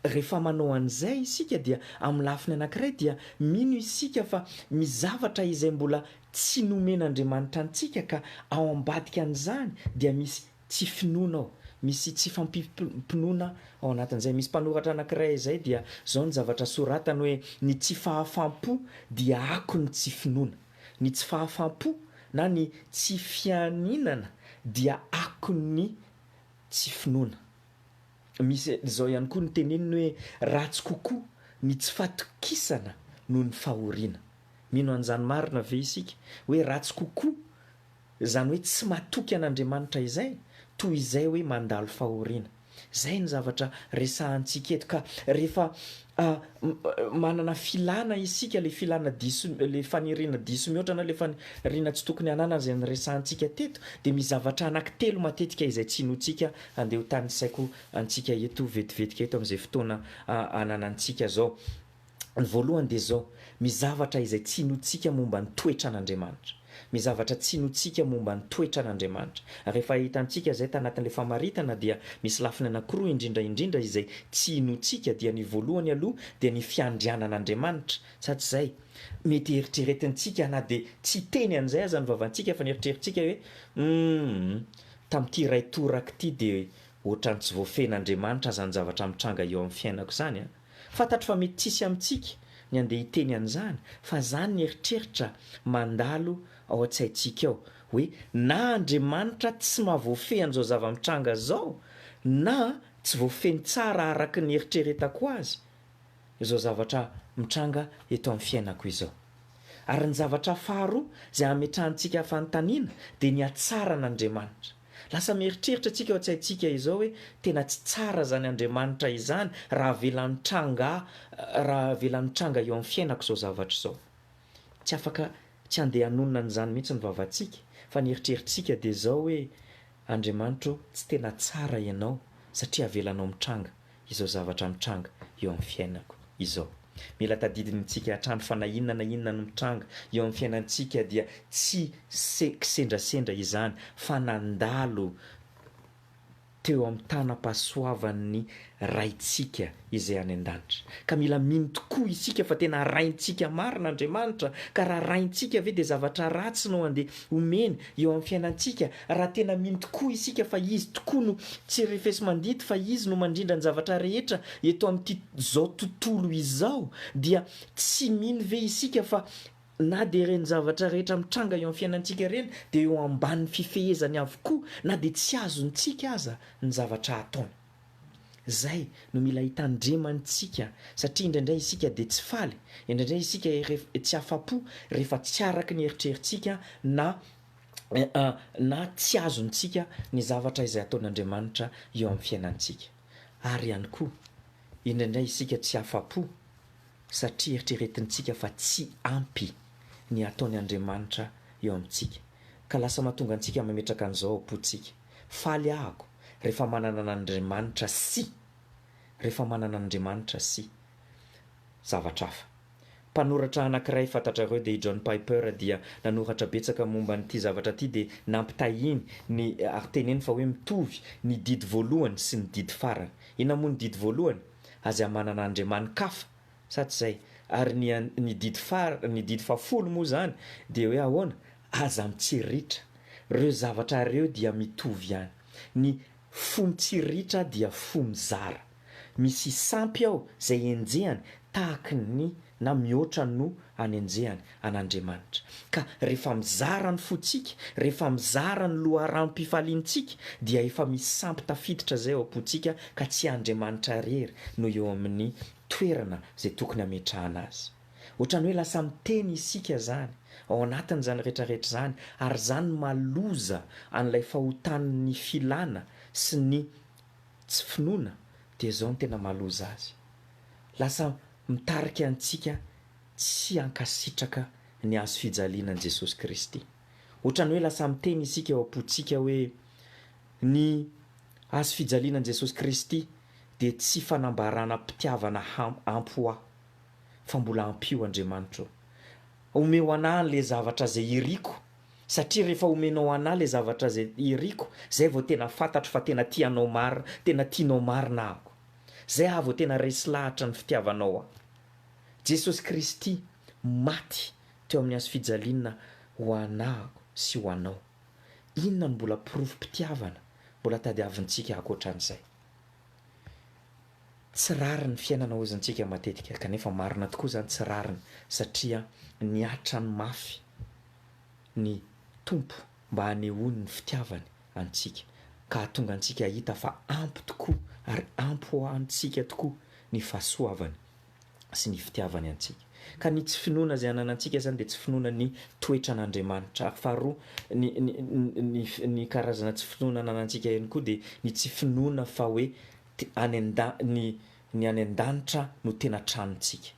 rehefa manao an'izay isika dia amin'ny lafiny anankiray dia mino isika fa misy zavatra izay mbola tsy nomen'Andriamanitra antsika ka ao ambadika an'izany dia misy tsy finoana ao, misy tsy fahampiam-pinoana ao anatin'izay. Misy mpanoratra anankiray izay dia izao ny zavatra soratany hoe ny tsy fahafam-po dia akon'ny tsy finoana. Ny tsy fahafam-po na ny tsy fianinana dia akon'ny Tsy finoana. Misy izao ihany koa ny teneniny hoe ratsy kokoa ny tsy fatokisana noho ny fahoriana. Mino an'izany marina ve isika hoe ratsy kokoa izany hoe tsy matoky an'Andriamanitra izay toy izay hoe mandalo fahoriana? Izay ny zavatra resahantsika eto ka rehefa A, Manana filana isika, ilay filana diso, ilay faniriana diso mihoatra na ilay faniriana tsy tokony hananana izay niresahantsika teto, dia misy zavatra anankitelo matetika izay tsy inoantsika handeha ho tanisaiko antsika eto vetivetika eto amin'izay fotoana ananantsika izao. Ny voalohany dia izao, misy zavatra izay tsy inoantsika momba ny toetran'Andriamanitra. Ny zavatra tsinoantsika momba ny toetran'Andriamanitra. Rehefa hitantsika izay tanatin'ilay famaritana dia misy lafiny anankiroa indrindra indrindra izay tsinoantsika dia ny voalohany aloha dia ny fiandrianan'Andriamanitra sa tsy izay? Mety eritreretintsika na dia tsy hiteny an'izay aza ny vavantsika fa ny eritreritsika hoe humm tamin'ity iray toraka ity dia ohatran'ny tsy voafehin'Andriamanitra aza ny zavatra mitranga eo amin'ny fiainako izany an! Fantatro fa mety tsy hisy amintsika ny handeha hiteny an'izany fa izany ny eritreritra mandalo ao an-tsaintsika ao hoe na Andriamanitra tsy mahavoafehy an'izao zava-mitranga izao na tsy voafehiny tsara araka ny eritreretako azy izao zavatra mitranga eto amin'ny fiainako izao. Ary ny zavatra faharoa izay hametrahantsika fanontaniana dia ny hatsaran'Andriamanitra. Lasa mieritreritra antsika ao an-tsaintsika izao hoe tena tsy tsara izany Andriamanitra izany raha avela nitranga raha avela nitranga eo amin'ny fiainako izao zavatra izao. Tsy afaka tsy handeha hanonona an'izany mihitsy ny vavantsika fa ny eritreritrtsika dia izao hoe Andriamanitra o, tsy tena tsara ianao satria avelanao mitranga. izao zavatra mitranga eo amin'ny fiainako izao. Mila tadidintsika hatrany fa na inona na inona no mitranga eo amin'ny fiainantsika dia tsy se kisendrasendra izany fa nandalo teo amin'ny tanam-pahasoavan'ny Raintsika izay any an-danitra. Ka mila mino tokoa isika fa tena Raintsika marina Andriamanitra, ka raha Raintsika ve dia zavatra ratsy no andeha omeny eo amin'ny fiainantsika Raha tena mino tokoa isika fa Izy tokoa no tsy refesi-mandidy, fa Izy no mandrindra ny zavatra rehetra eto amin'ity zao tontolo izao, dia tsy mino ve isika fa na dia ireny zavatra rehetra mitranga eo amin'ny fiainantsika ireny dia eo ambanin'ny fifehezany avokoa na dia tsy azontsika aza ny zavatra ataony? Izay no mila hitandremantsika satria indraindray isika dia tsy faly, indraindray isika tsy afa-po rehefa tsy araka ny eritreritsika na na tsy azontsika ny zavatra izay ataon'Andriamanitra eo amin'ny fiainantsika. Ary ihany koa, indraindray isika tsy afa-po satria eritreretintsika fa tsy ampy ny ataony Andriamanitra eo amintsika, ka lasa mahatonga antsika mametraka an'izao am-pontsika, Faly ahako rehefa manana an'Andriamanitra sy. Rehefa manana an'Andriamanitra sy. Zavatra hafa. Mpanoratra anankiray fantatrareo dia i John Piper dia nanoratra betsaka momba an'ity zavatra ity dia nampitahiany ny ary teneniny fa hoe mitovy ny didy voalohany sy ny didy farany. Inona moa ny didy voalohany? Aza manana andriamani-kafa, sa tsy izay? Ary ny ny didy fara ny didy fahafolo moa izany dia hoe ahoana? Aza mitsiritra. Ireo zavatra ireo dia mitovy ihany. Ny fo mitsiritra dia fo mizara. Misy sampy ao izay henjehany tahaky ny na mihoatra noho anenjehany an'Andriamanitra. Ka rehefa mizara ny fontsika, rehefa mizara ny loharanompifaliantsika dia efa misy sampy tafiditra izay ao am-pontsika ka tsy Andriamanitra irery no eo amin'ny toerana izay tokony hametrahana azy. Ohatran'ny hoe lasa miteny isika izany ao anatin'izany rehetrarehetra izany ary izany maloza an'ilay fahotan'ny filana sy ny Tsy finoana dia izao no tena mahaloza azy. Lasa mitarika antsika tsy hankasitraka ny hazo fijaliana an'i Jesosy Kristy. Ohatran'ny hoe lasa miteny isika ao am-pontsika hoe, Ny hazo fijaliana an'i Jesosy Kristy dia tsy fanambaranam-pitiavana ampy ho ahy, fa mbola ampio Andriamanitro. Omeo an'ahy an'ilay zavatra izay iriko. Satria rehefa omenao anah ilay zavatra izay iriko, izay vao tena fantatro fa tena tia anao marina, tena tianao marina ahako. Izay aho vao tena resy lahatra ny fitiavanao ahy. Jesosy Kristy maty teo amin'ny hazo fijaliana ho anahako sy ho anao. Inona no mbola porofom-pitiavana mbola tadiavintsika ankoatran'izay? Tsy rariny fiainana hozintsika matetika kanefa marina tokoa izany tsy rariny satria niatrany mafy ny Tompo mba hanehoany ny fitiavany antsika ka hahatonga antsika hahita fa ampy tokoa ary ampy ho antsika tokoa ny fahasoavany. sy ny fitiavany antsika. Ka ny tsy finoana izay ananantsika izany dia tsy finoana ny toetran'Andriamanitra. Ary faharoa, ny, ny, ny, ny karazana tsy finoana ananantsika ihany koa dia ny tsy finoana fa hoe te, any an-da, ny, ny any an-danitra no tena tranontsika.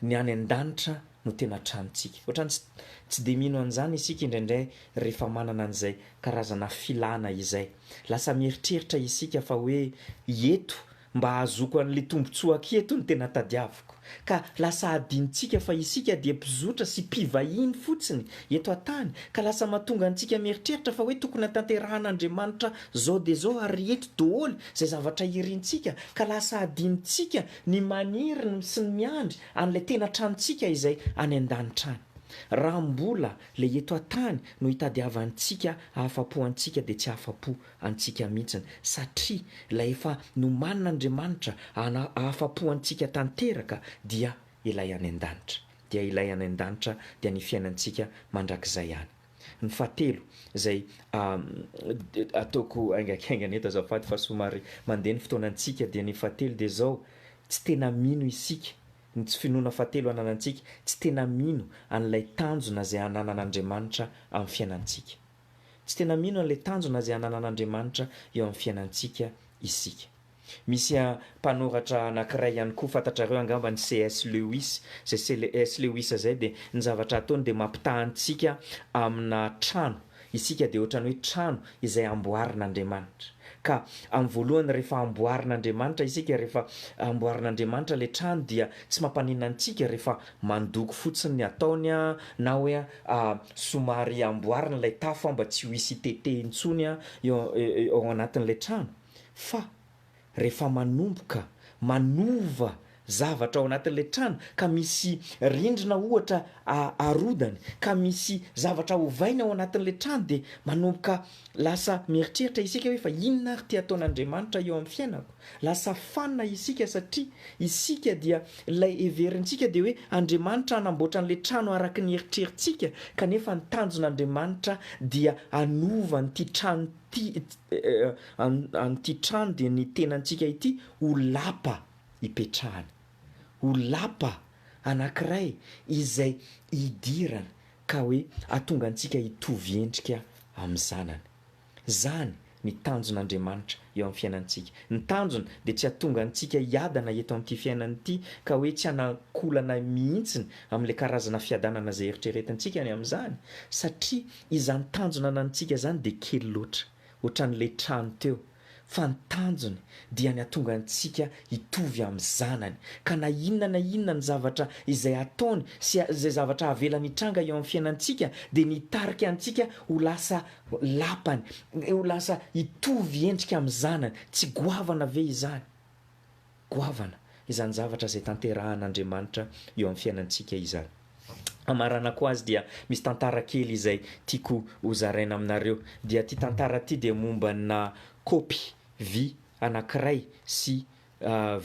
Ny any an-danitra no tena tranontsika. Ohatrany tsy, tsy dia mino an'izany isika indraindray rehefa manana an'izay karazana filana izay. Lasa mieritreritra isika fa hoe eto, Mba hahazoako an'le tombotsoa aketo no tena tadiaviko. Ka lasa hadinontsika fa isika dia mpizotra sy mpivahiny fotsiny eto an-tany ka lasa mahatonga antsika mieritreritra fa hoe tokony hatanterahan'Andriamanitra zao dia zao ary eto doholy zay zavatra irintsika ka lasa hadinontsika ny maniry ny sy ny miandry an'ilay tena tranontsika izay any an-danitra any. Raha mbola le eto an-tany no hitadiavantsika ahafapo antsika dia tsy ahafapo antsika mihitsiny satria ilay efa nomanin'Andriamanitra hana ahafapo antsika tanteraka dia ilay any an-danitra dia ilay any an-danitra dia ny fiainantsika mandrakizay any. Ny fahatelo izay ataoko haingankaingana eto azafady fa somary mandeha ny fotoana antsika dia ny fahatelo dia izao tsy tena mino isika ny tsy finoana fahatelo ananantsika tsy tena mino an'ilay tanjona izay ananan'Andriamanitra amin'ny fiainantsika. Tsy tena mino an'ilay tanjona izay ananan'Andriamanitra eo amin'ny fiainantsika isika. Misy mpanoratra anankiray ihany koa, fantatrareo angamba ny CS Lewis, izay CS Lewis izay dia ny zavatra ataony dia mampitaha antsika amina trano, isika dia ohatran'ny hoe trano izay amboarin'Andriamanitra. Ka amin'ny voalohany rehefa amboarin'Andriamanitra isika, rehefa amboarin'Andriamanitra ilay trano dia tsy mampaninona antsika rehefa Mandoko fotsiny ny ataony a, na hoe a somary amboarina ilay tafo a mba tsy ho hisy hitete intsony a eo eo anatin'ilay trano, fa rehefa manomboka manova zavatra ao anatin'ilay trano ka misy rindrina ohatra a arodany ka misy zavatra ovaina ao anatin'ilay trano dia manomboka lasa mieritreritra isika hoe fa inona ary ity ataon'Andriamanitra eo amin'ny fiainako? Lasa fanina isika satria isika dia ilay heverintsika dia hoe Andriamanitra hanamboatra an'ilay trano araka ny eritreritsika kanefa ny tanjon'Andriamanitra dia hanova an'ity trano ity an'ity trano dia ny tenantsika ity ho lapa hipetrahana ho lapa anankiray izay hidirana ka hoe hatonga antsika hitovy endrika amin'ny zanany Izany ny tanjon'Andriamanitra eo amin'ny fiainantsika. Ny tanjony dia tsy hahatonga antsika hiadana eto amin'ity fiainana ity ka hoe tsy hanankolana mihitsiny amin'ilay karazana fiadanana izay eritreretintsika ny amin'izany satria izany tanjona ananantsika izany dia kely loatra, ohatran'ilay trano teo fa ny tanjony dia ny hatonga antsika hitovy amin'ny Zanany, ka na inona na inona ny zavatra izay ataony sy izay zavatra havelany hitranga eo amin'ny fiainantsika dia ny hitarika antsika ho lasa Lapany, ho lasa hitovy endrika amin'ny Zanany. Tsy goavana ve izany? goavana izany zavatra izay tanterahan'Andriamanitra eo amin'ny fiainantsika izany. Hamaranako azy dia misy tantara kely izay tiako hozaraina aminareo. Dia ity tantara ity dia mombanà kaopy vy anankiray sy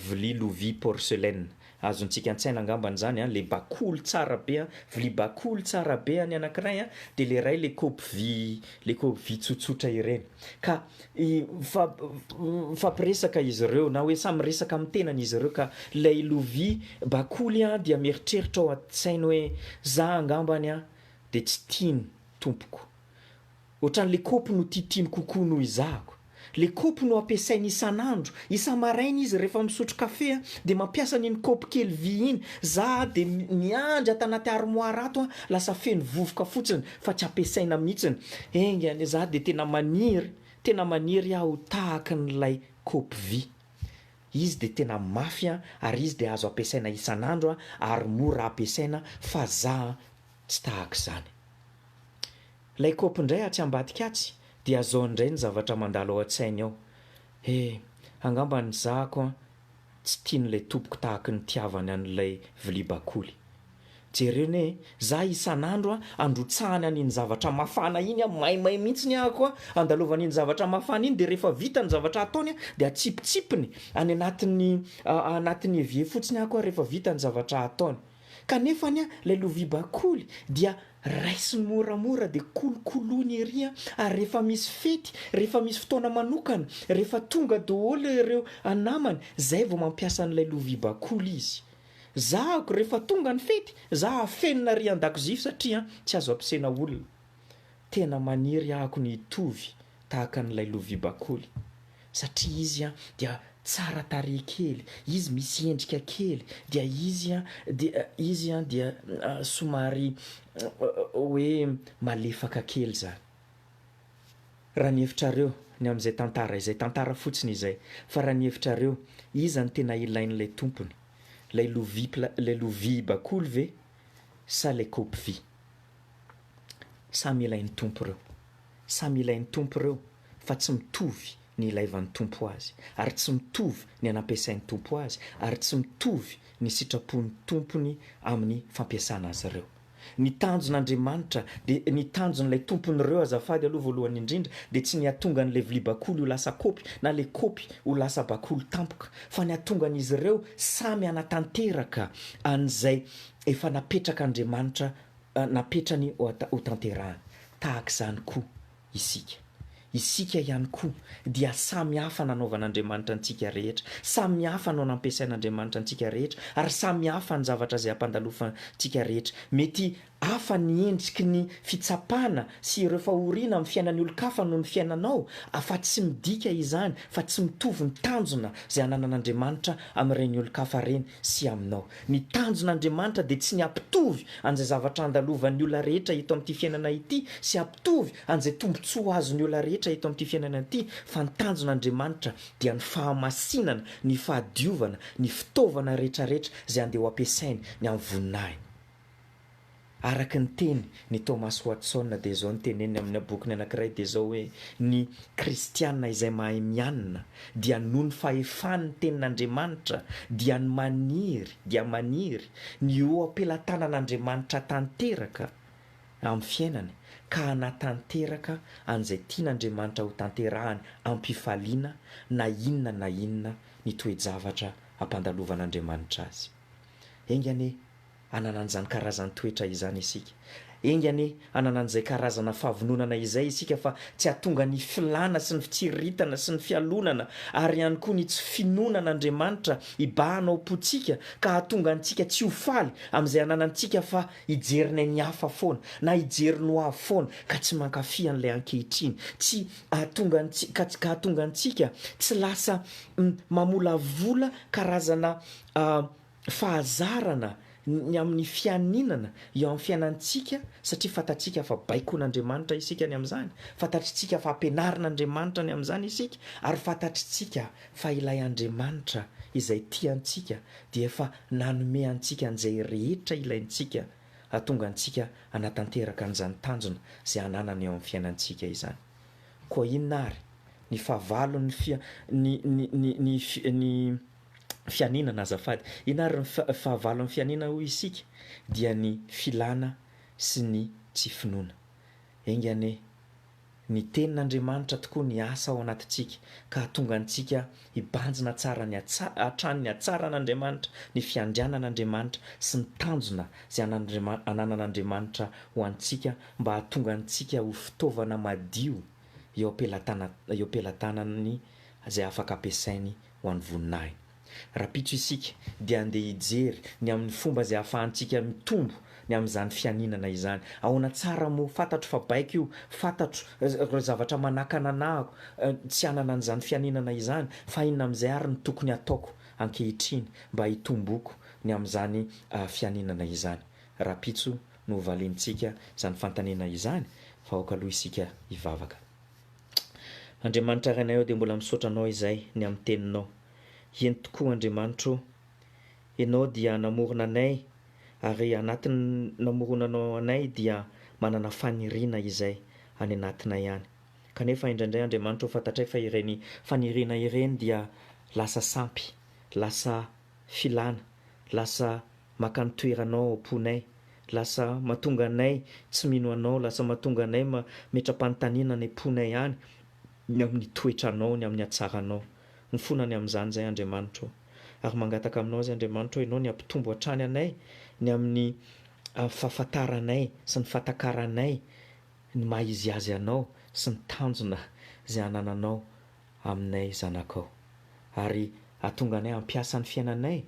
vilia lovia porcelaine. Azontsika an-tsaina angambany izany an, ilay bakoly tsara be, vilia bakoly tsara be any anankiray dia ilay iray ilay kaopy vy ilay kaopy vy tsotsotra ireny. Ka Mifampiresaka izy ireo, na hoe samy miresaka amin'ny tenany izy ireo ka ilay lovia bakoly dia mieritreritra ao an-tsainy hoe, za angambany dia tsy tiany tompoko. Ohatran'ilay kaopy no titiny kokoa noho izahako. Ilay kaopy no ampiasainy isan'andro. Isa-maraina izy rehefa misotro kafe dia mampiasa an'iny kaopy kely vy iny. Za dia miandry ato anaty armoara ato, lasa feno vovoka fotsiny. fa tsy ampiasaina mihitsiny, enga anie za dia tena maniry, tena maniry aho ho tahaka an'ilay kopy vy, izy dia tena mafy an, ary izy dia azo ampiasaina isan'andro an, ary mora ampiasaina fa za an tsy tahaka izany. Ilay kopy indray atsy ambadika atsy dia zao indray ny zavatra mandalo ao an-tsainy ao, he, angamba ny zako an, Tsy tian'ilay tompoko tahaka ny nitiavany an'ilay vilia bakoly. Jereo anie e, za isan'andro a, androtsahany an'iny zavatra mafana iny a, maimay mihitsy ny ahako a, andalovany iny zavatra mafana iny dia rehefa vita ny zavatra ataony a, dia atsipitsipiny any anatin'ny anatin'ny evier fotsiny ahako a rehefa vita ny zavatra ataony. Kanefa anie ilay lovia bakoly dia raisiny moramora dia kolokoloiny ery an, ary rehefa misy fety, rehefa misy fotoana manokana, rehefa tonga daholo ireo anamany, izay vao mampiasa an'ilay lovia bakoly izy. Zahako rehefa tonga ny fety, za afenina ery an-dakozia satria an, tsy azo ampisaina olona. Tena maniry ahako ny hitovy tahaka an'ilay lovia bakoly satria izy an dia tsara tarehy kely, izy misy endrika kely dia izy an dia izy an dia somary hoe malefaka kely izany. Raha ny hevitrareo, ny amin'izay tantara izay, tantara fotsiny izay, fa raha ny hevitrareo, iza no tena ilain'ilay tompony, ilay lovia pla ilay lovia bakoly ve sa ilay kaopy vy? Samy ilain'ny Tompo ireo. Samy ilain'ny Tompo ireo fa tsy mitovy ny ilaivan'ny Tompo azy ary tsy mitovy ny anampiasain'ny Tompo azy ary tsy mitovy ny sitrapon'ny Tompony amin'ny fampiasana azy ireo. Ny tanjon'Andriamanitra dia ny tanjon'ilay Tompon'ireo azafady aloha voalohany indrindra dia tsy ny hatonga an'ilay vilia bakoly ho lasa kopy na ilay kopy ho lasa bakoly tampoka fa ny hatonga an'izy ireo samy hanatanteraka an'izay efa napetrak'Andriamanitra napetrany hotanterahany. Tahaka izany koa isika. Isika ihany koa dia samy hafa nanaovan'Andriamanitra antsika rehetra, samy hafa no nampiasain'Andriamanitra antsika rehetra, ary samy hafa ny zavatra izay ampandalofantsika rehetra. Mety hafa ny endriky ny fitsapana sy ireo fahoriana amin'ny fiainan'ny olon-kafa noho ny fiainanao, afa tsy midika izany fa tsy mitovy ny tanjona izay ananan'Andriamanitra amin'ireny olon-kafa ireny. sy aminao. Ny tanjon' Andriamanitra dia tsy ny hampitovy an'izay zavatra andalovan'ny olona rehetra eto amin'ity fiainana ity sy hampitovy an'izay tombontsoa azon'ny olona rehetra eto amin'ity fiainana ity, fa ny tanjon' Andriamanitra dia ny fahamasinana, ny fahadiovana, ny fitaovana rehetrarehetra izay andeha ho ampiasainy ny amin'ny voninahiny. Araka ny teny ny Thomas Watson dia izao no teneniny amina bokiny anankiray dia izao hoe ny kristiana izay mahay mianina dia noho ny fahefany ny tenin' Andriamanitra dia ny maniry dia maniry ny eo am-pelatanan' Andriamanitra hatanteraka amin'ny fiainany ka hanatanteraka an'izay tian' Andriamanitra ho tanterahany am-pifaliana na inona na inona ny toe-javatra ampandalovan' Andriamanitra azy. Enga anie. hanana an'izany karazan'ny toetra izany isika. Enga anie hanana an'izay karazana fahavononana izay isika fa tsy hahatonga ny filàna sy ny fitsiriritana sy ny fialonana ary ihany koa ny tsy finoana an'Andriamanitra hibahana ao am-pontsika ka hahatonga antsika tsy ho faly amin'izay ananantsika fa hijery ny an'ny hafa foana na hijery ny hoavy foana ka tsy mankafy an'ilay ankehitriny tsy hahatonga antsika ka tsy hahatonga antsika tsy lasa mamolavola karazana fahazarana ny amin'ny fianinana eo amin'ny fiainantsika satria fantatsika fa baikon'Andriamanitra isika ny amin'izany, fantatritsika fa ampianarin'Andriamanitra ny amin'izany isika ary fantatritsika fa ilay Andriamanitra izay tia antsika dia efa nanome antsika an'izay rehetra ilaintsika hahatonga antsika hanatanteraka an'izany tanjona izay ananana eo amin'ny fiainantsika izany. Koa inona àry ny fahavalon'ny ny ny ny ny ny fianinana azafady. Inona ary ny fahavalon'ny fianinana hoy isika? Dia ny filana sy ny tsy finoana. Enga anie ny Tenin'Andriamanitra tokoa ny hiasa ao anatintsika ka hahatonga antsika hibanjina tsara ny hatrany ny hatsaran'Andriamanitra, ny fiandrianan'Andriamanitra sy ny tanjona izay ananan'Andriamanitra ho antsika mba hahatonga antsika ho fitaovana madio eo am-pelatanany izay afaka ampiasainy ho an'ny voninahiny. Rahampitso isika dia handeha hijery ny amin'ny fomba izay ahafahantsika mitombo ny amin'izany fianinana izany. Ahoana tsara moa? Fantatro fa baiko io, fantatro ireo zavatra manakana anahako tsy hanana an'izany fianinana izany, fa inona amin'izay ary no tokony hataoko ankehitriny mba hitomboako ny amin'izany fianinana izany? Rahampitso no hovaliantsika izany fanontaniana izany fa aoka aloha isika hivavaka. Andriamanitra Rainay ô dia mbola misaotra Anao izay ny amin'ny Teninao. Eny tokoa Andriamanitra ô, Ianao dia namorona anay ary anatin'ny namoronanao anay dia manana faniriana izay any anatinay any. Kanefa indraindray Andriamanitra ô fantatray fa ireny faniriana ireny dia lasa sampy, lasa. filana, lasa maka ny toeranao ao am-ponay, lasa mahatonga anay tsy mino anao, lasa mahatonga anay mametra-panontaniana any am-ponay any ny amin'ny toetranao, ny amin'ny hatsaranao. Mifona ny amin'izany izay Andriamanitra ô. Ary mangataka aminao izay Andriamanitra ô, ianao ny hampitombo hatrany anay ny amin'ny fahafantaranay sy ny fahatakaranay ny maha-izy azy anao sy ny tanjona izay anananao aminay zanakao, ary hahatonga anay hampiasa ny fiainanay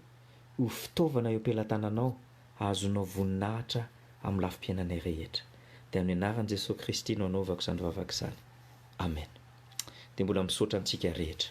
ho fitaovana eo am-pelatananao hahazoanao voninahitra amin'ny lafim-piainanay rehetra. Dia amin'ny anaran'i Jesoa Kristy no anaovako izany vavaka izany. Amen. Dia mbola misaotra antsika rehetra.